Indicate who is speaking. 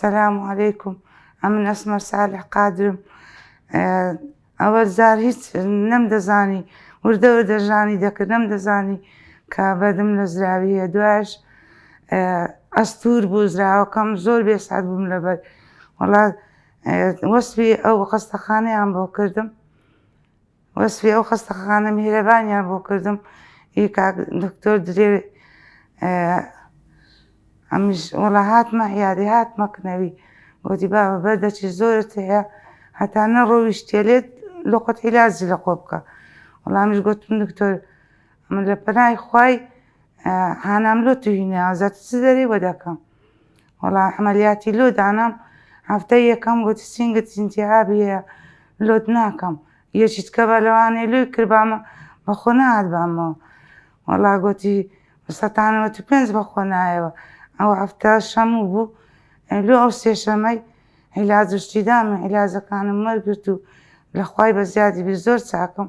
Speaker 1: سلام علیکم ئەمن ئەسمە سالح قادرم ئەوە زار هیچ نەم دەزانی وردە وردە ژانی دەکرد نەم دەزانی کە بەدم لە زراویە دوایش ئەستور بوو زراوەکەم زۆر بێسات بووم لەبەر وڵات وەسوی ئەو خەستەخانەیان بۆ کردم وەسفی ئەو خەستەخانە میهرەبانیان بۆ کردم ئی کاک دکتۆر درێ ئەمیش وەڵا هاتمە عیادی هاتمە کنەوی گوتی بابە بەردەچی زۆرت هەیە هەتا نەڕۆیشتێ لێت لۆقت عیلاجی لە خۆ بکە وەڵا ئەمیش گوتم دکتۆر من لە پەنای خوای هانام لۆ توهینە ئازاد چ دەری وە دەکەم وەڵا عەمەلیاتی لوت دانام هەفتەی یەکەم گوتی سینگت ئینتیهابی هەیە لوت ناکەم یەکیت کە بە لەوانەیە لوی کردبامە بەخۆ نەهاتبامەوە وەڵا گوتی سەتان نەوەت و پێنج بەخۆ نایەوە ئەو هەفتە شەموو بوو لۆ ئەو سێشەمەی عیلاج و شتی دامە عیلاجەکانم وەرگرت و لە خوای بە زیادی بیر زۆر چاکم